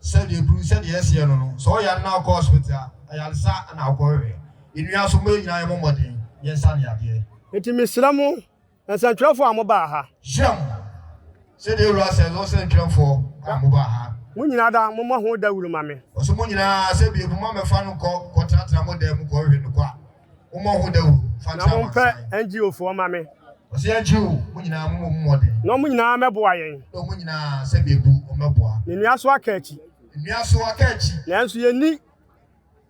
Sɛdeɛ bru sɛdeɛ ɛseɛ no no sɛ ɔyare na ɔkɔ hospital a ayaresa na ɔkɔ hwehwɛ ɛnua so mo yɛ nyinaa yɛ mo mmɔden yɛ nsa ne adeɛ. Nti mesrɛ mo nsɛntwerɛfoɔ a mo baa ha. Hyira mo sɛdeɛ ewura sɛ no nsɛntwerɛfoɔ a mo baa ha. Mo nyinaa da mo mmɔ ho dawuru ma me. Ɔse mo nyinaa sɛ biako mo amɛfa no kɔ kɔ tratra mo dan mu kɔ hwehwɛ no kɔ a. Mommɔ ho dawuru mfa nkyerɛ amansan. Na mompɛ NGO foɔ ma me. Ɔsi NGO mo nyinaa mo mɔ mu mmɔden. Na ɔmo nyinaa mɛboa yɛn. Na ɔmo nyinaa sɛ bi ebu ɔmo mɛboa. Ne nua so aka akyi. Ne nua so aka akyi. Nanso yɛn ni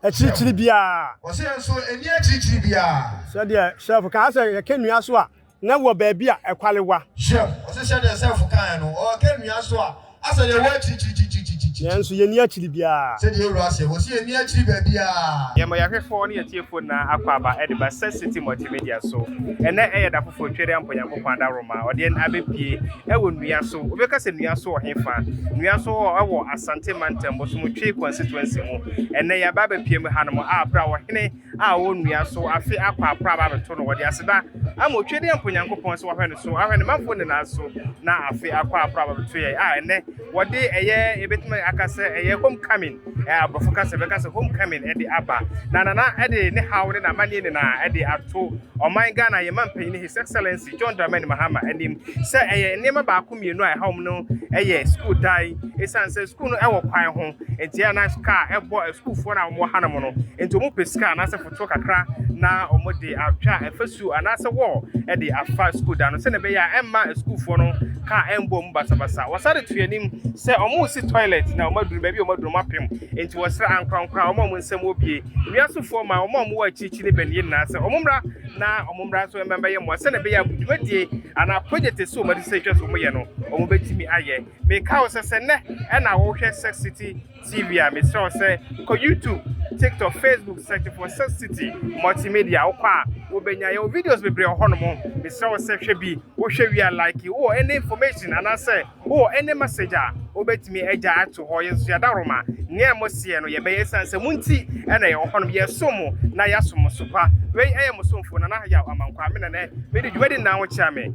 akyirikyiri biara. Ɔsi yɛn nso yɛn ni akyirikyiri biara. Sɛdeɛ Sheriff kaa sɛ yɛka nua so a. na wɔ baabi a ɛkwarewa. Hwɛm, ɔse sɛdeɛ Sɛɛfo kaeɛ no, ɔɔka nnua so a, asɛ deɛ ɛwɔ akyirikyirikyirikyirikyiri. Nanso yenni akyiri biara. Sɛdeɛ Yewura seɛ, wɔse yenni akyiri baabiara. Yɛn bɔ yɛahwɛfoɔ ne yɛn atiefo nyinaa akwaaba de ba sɛ Citi Multimedia so. Ɛnnɛ ɛyɛ da foforɔ Tweri Ampɔn Nyankopɔn Adaworoma a ɔde yɛn abɛpue wɔ nnua so. Wobɛka sɛ nnua so wɔ he fa? Nnua so hɔ wɔ Asante Mantam, Bosomo Twei Constituency mu. Ɛnnɛ yɛaba abɛpue mu hanom a berɛ a Ɔhene. a ɔwɔ nnua so afe akɔ akɔ aba abɛto no, wɔde aseda ama Otwedeɛ Mpo Nyankopɔn sɛ wahwɛ no so, ahwɛ ne manfoɔ nyinaa so, na afe akɔ akɔ aba abɛto yɛn a ɛnnɛ wɔde ɛyɛ, yɛbɛtumi aka sɛ ɛyɛ homecoming, ɛɛ aborɔfo kasa bɛka sɛ homecoming ɛde aba, na Nana ɛde ne haw ne n'amanneɛ nyinaa ɛde ato ɔman Ghana, yɛn manpanin His Excellency John Dramani Mahama anim sɛ ɛyɛ nneɛma baako mmienu a ɛhaw wɔn no yɛ sukuu dan, ɛsiane sɛ sukuu no wɔ kwan ho. Enti ɛyɛ a na sika a ɛbɔ asukuufoɔ no a wɔwɔ hanom no, enti wɔpɛ sika anaasɛ fotoɔ kakra na wɔde atwa afasu anaasɛ wall de afa sukuu dan no sɛdeɛ ɛbɛyɛ a ɛmma asukuufoɔ no kaa ɛmbɔ mu basabasa. Wɔsan de to anim sɛ wɔresi toilet na wɔaduru baabi a wɔaduru wɔapem. Enti wɔsrɛ ankorankorɛ a wɔn a wɔn nsam wɔ bie, nnua sofoɔ ma wɔn a wɔwɔ akyirikyiri ne baniɛ nyinaa sɛ wɔmmra na wɔmmra nso mmɛyɛ mmoa sɛdeɛ ɛbɛyɛ a dwumadie anaa project a ɛsɛ wɔn ani sɛ ɛtwa sɛ wɔyɛ no wɔbɛtumi ayɛ. Meka wo sɛ sɛ nnɛ ɛna wohwɛ Sex City TV a, mesrɛ wo sɛ kɔ YouTube, TikTok, Facebook, search for Sex City Multimedia. Wokɔ a, wobɛnya yɛwɔ videos bebree wɔ hɔnom. Mesrɛ wo sɛ hwɛ bi, wohwɛ wie a like. Wowɔ any information anaasɛ wowɔ any message a, wobɛtumi agya ato hɔ. Yɛn nso yɛadaworoma nea moseɛ no yɛbɛyɛ esiane sɛ mo nti ɛna yɛwɔ hɔnom. Yɛresom mo na yɛasom mo so pa. Wei ɛyɛ mo somfo Nana Yaw Amankwa, me na nɛ medi dwumadi nna a wokyea me.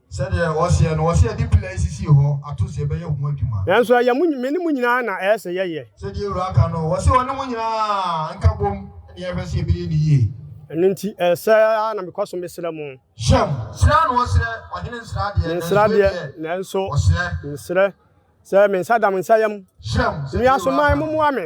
Sɛdeɛ wɔseɛ no, wɔse yɛde pila yi sisii hɔ ato sɛ ɛbɛyɛ ho adwuma. Nanso ɛyɛ mo, me ne mo nyinaa na ɛyɛ sɛ yɛyɛ. Sɛdeɛ Wura aka no, wɔse ɔne mo nyinaa nka bom ne yɛn hwɛ sɛ yɛbɛyɛ no yie. Ɛno nti, ɛyɛ sɛ ara na mekɔ so mesrɛ mo. Hyɛm, sraa na wɔsrɛ, ɔhene nsra deɛ, Mensra nanso deɛ, ɛdeɛ, nanso wɔsrɛ. mesrɛ, sɛ me nsa da mo nsa yam. Hyɛm, sɛdeɛ Wura Nnuasoman, aka no. mommoa me,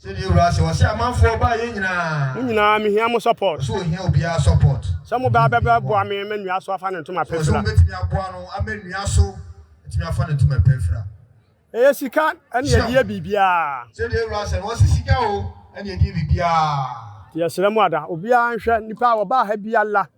Sɛdeɛ Awuraa se, ɔse amanfoɔ baa yɛ nyinaa. Mo nyinaa me hia mo support. Ɔse ohia obiara support. Sɛ mo baa bɛ bɛ boa me ma nua so afa ne ntoma pɛ fira. Ɔse ɔbɛtumi aboa no ama nua so atumi afa ne ntoma pɛ fira. Ɛyɛ sika ɛne ɛdeɛ biribiara. Sɛdeɛ Awuraa se no, ɔse sika o ɛne ɛdeɛ biribiara. Nti yɛ srɛ mo ada, obiara nhwɛ nipa a ɔbaa ha biara.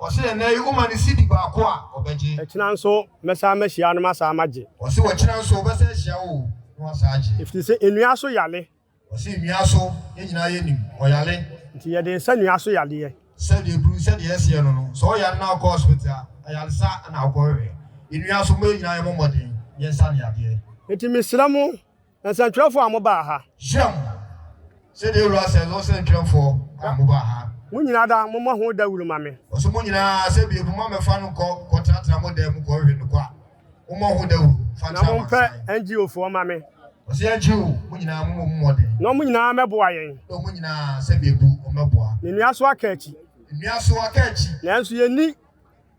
Ɔse ɛnɛ yi woma no CD baako a ɔbɛgye. Ɛkyena nso mɛsan mahyia no masan magye. Ɔse wɔkyena nso ɔbɛsan ahyia wo na wasan agye. Efiri se nnua so yale. Ɔse nnua so yɛn nyinaa yɛnim ɔyale. Nti yɛde nsa nnua so yaleɛ. Sɛdeɛ aduru sɛdeɛ yɛseɛ no no sɛ ɔyare na ɔkɔ hospital a ayaresa na ɔkɔ hwehwɛ. Nnua so mo yɛn nyinaa yɛmɔ mmɔden yɛnsa no yadeɛ. Nti mesrɛ mo Nsɛntwerɛfoɔ a mobaa ha. Hyiam, sɛdeɛ Wura sɛ, ne nsɛntwerɛfoɔ a mobaa ha. Mo nyinaa da, mommɔ ho dawuru ma me. Ɔse mo nyinaa sɛ bie moma mɛfa no nkɔ kɔtenatena mo dan mu kɔhwehwɛ no kwa. Mommɔ ho dawuru mfa nkyerɛ amansan. Na mompɛ NGO foɔ ma me. Ɔse NGO, mo nyinaa mommɔ mu mmɔden. Na wɔn nyinaa mmɛboa yɛn. Na wɔn nyinaa sɛ bie bu wɔmmɛboa. Ne nnuasoɔ akaakyi. Nnuasoɔ akaakyi. Nanso yɛnni.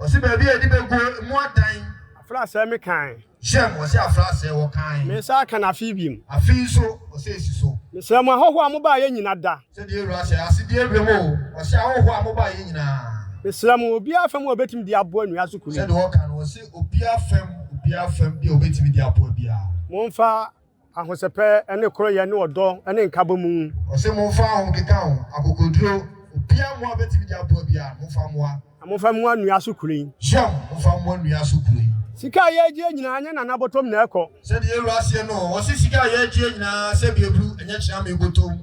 Ɔse baabi a yɛde bɛguo mu adan. Afra asɛɛ me kan. Hyɛm, ɔse afra asɛɛ wɔ kan. Me nsa aka no afei biom. Afei nso, ɔse ɛsi so. Mesrɛ mo ahɔhoɔ a mobaa yɛ nyina da. Sɛ deɛ Awura hyɛ, ase deɛ berɛ mu o. Ɔse ahɔhoɔ a mobaa yɛ nyinaa. Mesrɛ mo, obiara fam a ɔbɛtumi de aboa nnua so kuro yi. Sɛdeɛ ɔka no, ɔse obiara fam, obiara fam bi a ɔbɛtumi de aboa biara. Momfa Ahosɛpɛ ne koroyɛ ne ɔdɔ ne nkabɔ mu. Ɔse monfa ahokeka ho akokoduro. Obia mmoa bɛtumi de aboa bi a, momfa mmoa. Na momfa mmoa nnua so kuro yi. Shem, momfa mmoa nnua so kuro yi. Sika a yɛregyeɛ nyinaa, ɛnyɛ Nana bɔtɔm na ɛkɔ. Sɛdeɛ yɛn wura seɛ no, ɔse sika a yɛregyeɛ nyinaa, sɛdeɛ ɛduru, ɛnyɛ Kyeame bɔtɔm.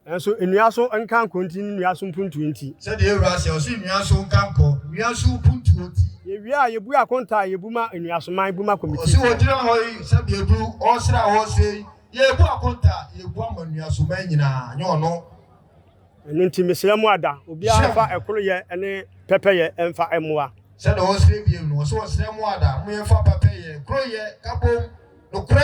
Nanso nnua so nka nkɔ nti ne nnua so mpuntuo nti. Sɛdeɛ Awurade seɛ, ɔse nnua so nka nkɔ, nnua so mpuntuo nti. Yɛwie a, yɛbue akonta a yɛbu ma Nnuasoman bu ma Committee. Ɔse wɔgyina hɔ yi sɛdeɛ du ɔɔsere a ɔɔsere yi, yɛɛbu akonta a yɛbu ama Nnuasoman nyinaa, nyɛ ɔno. Ɛno nti mesrɛ mo ada, obiara mfa ɛkoroyɛ ne pɛpɛyɛ mfa mmoa. Sɛdeɛ ɔɔsere bio no, ɔse ɔsrɛ mo ada, mo yɛmfa pɛpɛyɛ, koroyɛ, kabom, nokorɛ.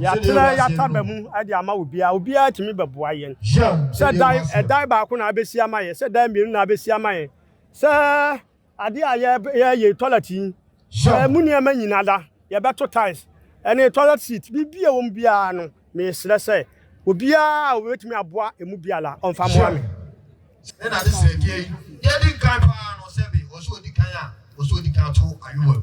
Yɛatena yɛata ba mu de ama obiara. Obiara tumi bɛboa yɛn. Sɛ dan, ɛdan baako na abɛsi ama yɛn, sɛ dan mmienu na abɛsi ama yɛn, sɛ adeɛ a yɛyɛ toilet yi, ɛmu nneɛma nyina da, yɛbɛto tiles, ɛne toilet seat, biribi a wɔn biara no, mesrɛ sɛ obiara a wɔbɛtumi aboa ɛmu biara ɔmfa mmoa me. Ɛna ade srɛdeɛ yi, deɛ ɛdi kan paa no sɛ be ɔsɛ ɔdi kan a ɔsɛ ɔdi kan to ayowa mu.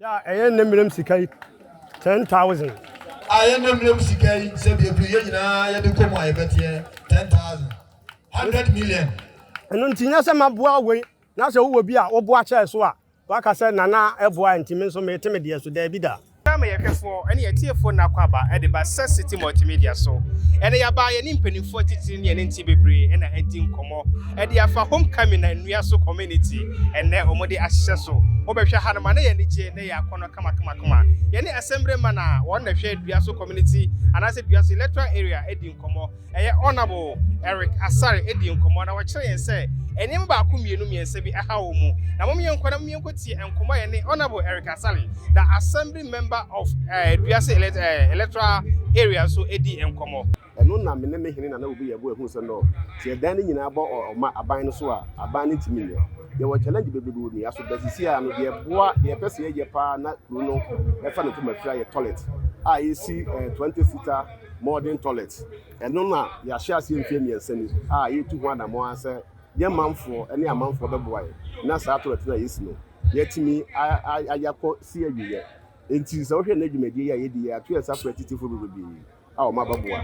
Yɛ a ɛyɛ nnɛ mmerɛm sika yi ten thousand. A yɛ nnɛ mmerɛm sika yi sɛ bi ɛduru yɛ nyinaa yɛ de kɔ mu a yɛ bɛteɛ ten thousand. Hundred million. Ɛno nti nyɛ sɛ maboa wei na sɛ wo wɔ bi a wo boa kyɛɛ so a wa ka sɛ Nana ɛboa nti me nso mete me deɛ so, daabi da. Yɛn ama yɛn hwɛfoɔ ne yɛn atiefoɔ nna akwaaba de ba Sɛ City Multimedia so. Ɛnnɛ yɛaba yɛne mpaninfoɔ atitire ne yɛne nte bebree na adi nkɔmmɔ. Ɛde afa Home Coming na Nnua So Community ɛnnɛ wɔde ahyehyɛ so. Wobɛhwɛ ha no ma na yɛ anigye na yɛ akɔnnɔ kamakamakama. Yɛne Assembly man a wɔn na ɛhwɛ Dua So Community anaasɛ Dua So Electoral Area di nkɔmmɔ. Ɛyɛ Honourable Eric Asare di nkɔmmɔ na wɔkyerɛ yɛn sɛ nneɛma baako mmienu mmiɛnsa bi ahaw wɔn mu. Na mom yɛnkɔ na mom yɛnkɔtie nkɔmmɔ a yɛne Honourable Eric Asare, the Assembly member of eh, Dua So eh, Electoral Area nso di nkɔmmɔ. Ɛno na me ne me hene Nana Obi yɛbɔ ɛhuu sɛ no sɛ yɛdan ne nyinaa bɔ ɔma aban no so a aban no ntumi nyɛ. Yɛwɔ challenge bebrebe wɔ nnua so but seesei ara no deɛ ɛboa deɛ yɛpɛ sɛ yɛyɛ pa ara na kuro no ɛfa ne fam afiri ayɛ toilet a yɛsi 20 seater modern toilet. Ɛno na yɛahyɛ aseɛ mfeɛ mmiɛnsa ni a yɛretu ho anammɔn ara sɛ yɛn manfoɔ ne amanfoɔ bɛboa yɛn na saa toilet no a yɛsi no yɛatumi ayɛ akɔ si awieɛ. Enti sɛ wohwɛ nnɛ dwumadie yi a yɛdi yi a yɛato yɛn nsa frɛ atitefoɔ bebrebe. a ɔma bɛboa.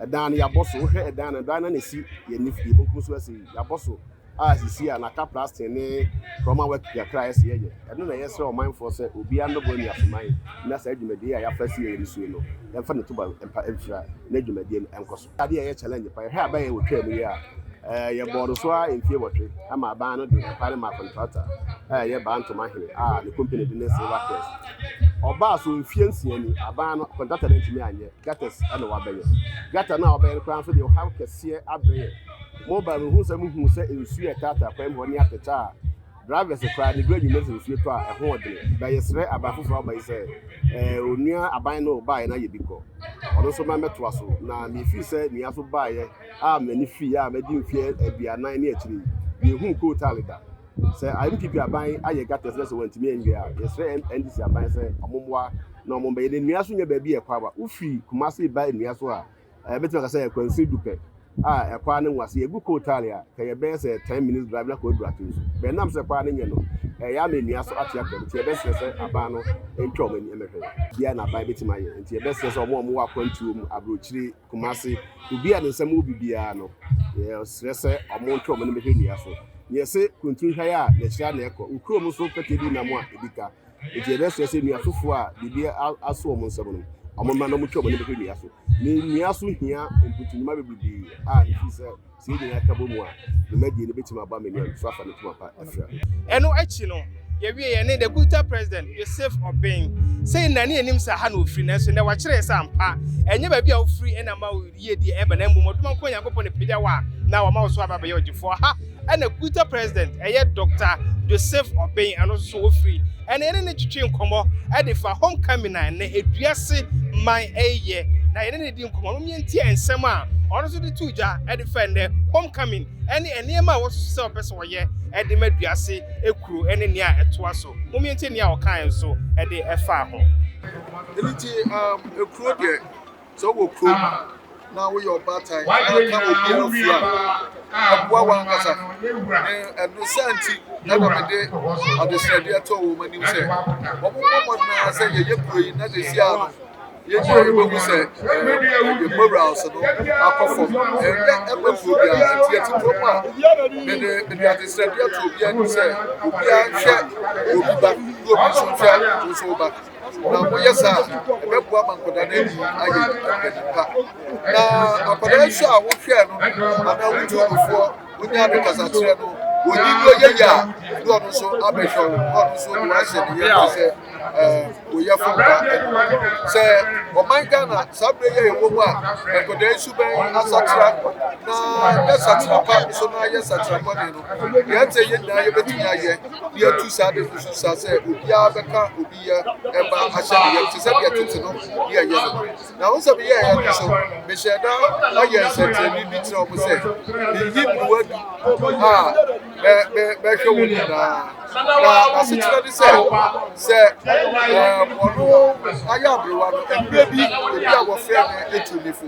Ɛdan no yɛabɔ so, wohwɛ ɛdan no dan no na ɛsi yɛn nifa yɛn benkum so ɛsi yɛabɔ so a sisi a n'aka plastic ne kurɔma wɔ kakra ɛsi yɛyɛ ɛno na yɛsrɛ ɔmanfoɔ sɛ obiara mmɛbɔ nnuasoman na saa dwumadie a yɛafa si yɛyɛ no sue no yɛmfa ne tuba mpa mfira na dwumadie no ɛnkɔ so. Adeɛ a ɛyɛ challenge pa yɛhwɛ aban yɛn wɔtwaa mu yi a ɛɛ yɛbɔɔ no so a mfie wɔtwe ama aban no de ɛkwan no maa kɔntrakta a ɛyɛ Baa Ntoma Hene a ne company de ne Silver Crest. Ɔbaa so mfeɛ nsia ni, aban no kɔntratɛ no antumi anyɛ, gutters na wabɛyɛ. Gutter no a wabɛyɛ no koraa nso deɛ ɔhaw kɛseɛ abrɛ yɛn. Moba no mehu sɛ mohuu sɛ nsuo a ɛtaataa kwan mu hɔ ne atɛkyɛ a drivers koraa de gu anwummerɛ sɛ nsuo tɔ a ɛho ɔdene. Na yɛsrɛ aban foforɔ a wɔba yi sɛ ɛɛ onua aban no baeɛ na yɛ bi kɔ ɔno nso ma mmɛtoa so. Na mefiri sɛ nua so baeɛ a m'ani firii a madi mfeɛ aduanan ne akyire yi, menhuu Coal Tally da. Sɛ NPP aban ayɛ gutters na sɛ wɔantumi anwie a, yɛsrɛ NDC aban sɛ wɔmmoa na wɔmbɛyɛ. Na nnua so nyɛ baabi a ɛkɔ aba. Wofi Kumasi ba nnua so a, ɛɛ bɛtumi aka sɛ akwansin du pɛ a ɛkɔ ara ne nwa. Sɛ yɛgu coal tar a, ka yɛbɛyɛ sɛ ten minutes drive na kɔ aduru ato nsu. Bɛn nam sɛ ɛkɔ ara ne nyɛ no, ɛyɛ ama nnua so ate akɔ. Nti yɛbɛsrɛ sɛ aban no ntwa wɔn ani mmɛhwɛ. Bia na aban bɛtumi ayɛ. Nti yɛbɛsrɛ sɛ wɔn a wɔwɔ akwantuo mu, aburokyire, Kumasi, obi a ne nsam wɔ biribiara no, yɛsrɛ sɛ wɔntwe wɔn anim hwɛ nnua so. Nea ɛse Kuntun hwan a na akyira na ɛkɔ. Wo kurom nso pɛtɛ di nam a ebi ka. Enti yɛbɛsrɛ sɛ nnua foforo a biribi aso wɔn nsam no, wɔmma na wɔntwe wɔn anim hwɛ nnua so. Nnua so hia mputunwuma bebrebe a ɛfiri sɛ. Sɛ yɛn nyinaa ka bom a, dwumadie no bɛtumi aba amani a nso afa ne poma pa afira. Ɛno akyi no, yɛwiee yɛne The Good Time President, Yosef Obeng. Sei na na yɛnim sɛ ha na ɔfiri, nanso nnɛ wakyerɛ yɛn sɛ ampa, ɛnyɛ baabi a wofiri na ɛma wo yiedie ɛba, na mmom ɔdom a Nkoa Nyankopɔn na ɛpagya wo a na wama wo so aba abɛyɛ ɔgyefoɔ. Ha na Good Time President, ɛyɛ Doctor Yosef Obeng, ɛno nso so ɔfiri. Ɛnna yɛne no twetwee nkɔmmɔ de faa Homecoming a na Eduase man reyɛ, na yɛne no dii nkɔmmɔ ma yɛtiee nsɛm a ɔno nso de too dwa de fa nnɛ Homecoming ne nneɛma a wɔasusu sɛ wɔpɛ sɛ wɔyɛ de ma Eduase kuro ne nea ɛtoa so. Mom yɛntie nea ɔkae nso de faa ho. Ɛno nti, um, ekuro deɛ. Sɛ wowɔ kurom na woyɛ ɔbaatan na ka obi afotu a, ɛboa w'ankasa. Ɛno saa nti na mede adesrɛdeɛ too wɔn anim sɛ wɔmmɔ mmɔden ara sɛ yɛyɛ kuro yi na sɛsi ara no yɛn nyinaa yɛbɛhu sɛ yɛn morals no akɔ fam. Ɛnyɛ ɛma kuro biara nti yɛte kurom a mede mede adesrɛdeɛ too obiara anim sɛ obiara nhwɛ obi ba na obi nso nhwɛ wo nso wo ba. na wɔyɛ saa a, ɛbɛboa ma nkwadaa no ani ayɛ mpanin pa. Na akwadaa nso a wohwɛɛ no anaa wotu nufoɔ wonya no kasakyerɛ no, wɔyi no yɛ yɛ a, ne ɔno nso abɛhwɛ wo, na ɔno nso de wahyɛ ne yɛ ba sɛ wɔyɛ fo mma ɛno. Sɛ ɔman Ghana saa berɛ yɛ ɛwɔ mu a, nkwadaa yi so bɛn asakyera na yɛ sakyera pa nso na yɛ sakyera bɔne no, deɛ ɛte yɛ nyinaa yɛbɛtumi ayɛ. obi atu saa de kosu saa sɛ obiara bɛka obi yɛ ɛba ahyɛ ne yam te sɛ deɛ tete no ne ɛyɛ no na wo sɛ meyɛ ɛyɛ no so mehyɛ da ayɛ nsɛnkyerɛnne bi kyerɛ wɔn sɛ meyi mmoa du a bɛhwɛ wɔn nyinaa na asekyerɛ ne sɛ sɛ ɔno ayɛ aberewa no mmerɛ bi obi a wɔfrɛ no ɛtu nifo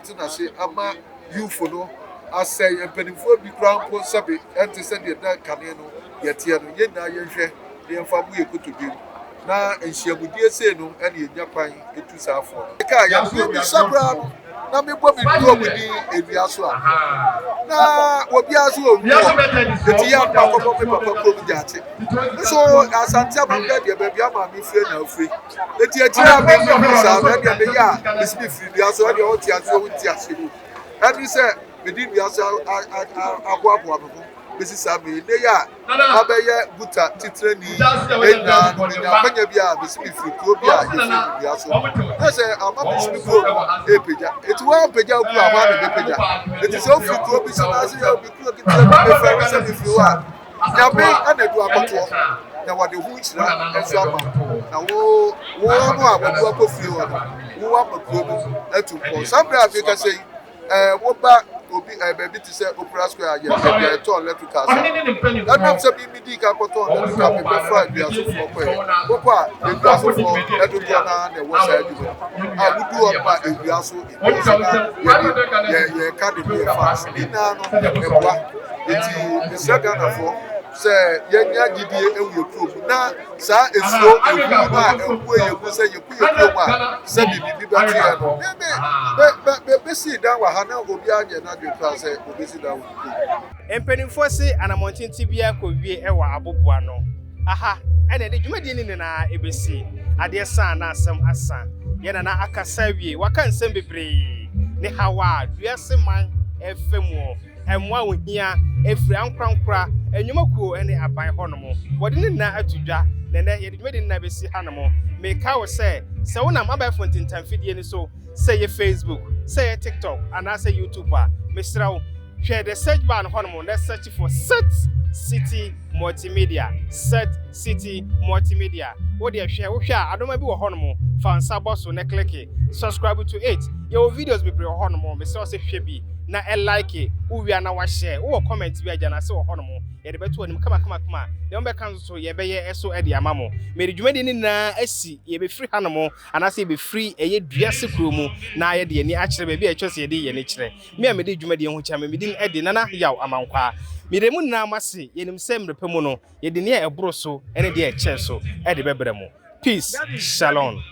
tena ase ama Yufo no asɛe yɛn mpanimfoɔ bi koraa mpo sɛbe ɛnte sɛ deɛ na kane no yɛteɛ no, yɛn nyinaa yɛnhwɛ na yɛmfa mmu yɛn kotodwe mu, na nhyiamudie sei no na yɛnya kwan tu saa fo no. Ɛka a yɛn ho bisa koraa no, na mebɔ me turo mu din awia so a, na obiara nso wɔ wu hɔ, enti yɛn akoma kɔbɔ me papa kurom gyaate. Nso Asante Amammerɛ deɛ baabi a maame fire na ofire. Eti akyiri a me me hu saa no ɛdeɛ meyɛ a mesi me firi dua so ɛdeɛ ɔte aseɛ wo nte aseɛ mu ɛne sɛ mede nnua so aboaboa me ho bɛsi saa mmerɛ ne yɛ a mabɛyɛ guta titrani ɛnyaa no menya akwanya bi a mesi me firi kuro bi a yɛfiri no dua so na sɛ ama mesi me kuro no ɛpagya ɛti hɔ a mpagya kuro a hɔ a na mɛpagya ɛti sɛ wofiri kuro bi so na ase yɛ obi kuro ketewa bi mefrɛ me sɛ mefiri hɔ a Nyame anadu akɔtoɔ na wɔde ho nhyira nso ama wo, na wo, wo no a wɔadu akɔ fie hɔ no, wo ama kuro no atu mpɔn. Saa mmerɛ a mekasa yi, eh, woba obi, eh, baabi te sɛ Opera Square a yɛ baabi a yɛtɔn electrical sa. Ɛnam sɛ me medii kan kɔtɔn electrical, mebɛfra nnuasofoɔ kɔɛ. Wokɔ a, nnuasofoɔ dodoɔ no ara na ɛwɔ saa adwuma yi. A wodu hɔ nom a, ɛhwia so. yɛka de bi ɛfa ase ne nyinaa no ɛboa nti mesrɛ ghanafoɔ sɛ yɛnya gyidie ɛwɔ yɛ kurom na saa esuo ehuru no a ɛbue yɛ mu sɛ yɛkɔ yɛ kurom a sɛ biribi bɛte yɛ no bɛ bɛsi dan wɔ ha na obiara nyɛ n'adwene koraa sɛ obɛsi dan wɔ ne kurom. Mpanimfoɔ se anamɔntenten biara kɔ wie wɔ aboboano. Aha na ɛde dwumadie no nyinaa bɛsi. Adeɛ sa na asɛm asa. Yɛn Nana akasa awie. Waka nsɛm bebree. Ne haw a wiase man refa mu. Mmoa a wɔhia firi ankorankora, nnwumakuo ne aban hɔnom. Wɔde ne nyinaa ato dwa na ɛnnɛ yɛde dwumadie no nyinaa bɛsi hanom. Mekae wo sɛ, sɛ wonam abɛɛfo ntentanfidie no so sɛ ɛyɛ Facebook, sɛ ɛyɛ TikTok anaasɛ YouTube a, mesrɛ wo hwɛ the search bar no hɔnom na search for Set City Multimedia. Set City Multimedia. Wo deɛ hwɛ wohwɛ a adoma bi wɔ hɔnom fa nsa bɔ so na kleke subscribe to it. Yɛwɔ videos bebree wɔ hɔnom mesrɛ wo sɛ hwɛ bi na ɛlike wowia na wahyɛ wowɔ comment bi agya no ase wɔ hɔnom yɛde bɛto anim kamakamakama deɛ wobɛka nso so yɛbɛyɛ ɛso de ama mo mede dwumadie no nyinaa asi yɛbɛfiri hanom anaasɛ yɛbɛfiri ɛyɛ dua sekuro mu na ayɛ de yɛni akyerɛ baabi a ɛtwa sɛ yɛde yɛni kyerɛ me a mede dwumadie ho kyɛ me medin ɛde nana yaw amankwaa mede mu nyinaa mo ase yɛnim sɛ mmerɛpɛ mu no yɛde nea ɛboro so ɛne deɛ ɛkyɛɛ so ɛde bɛbrɛ mo peace shalom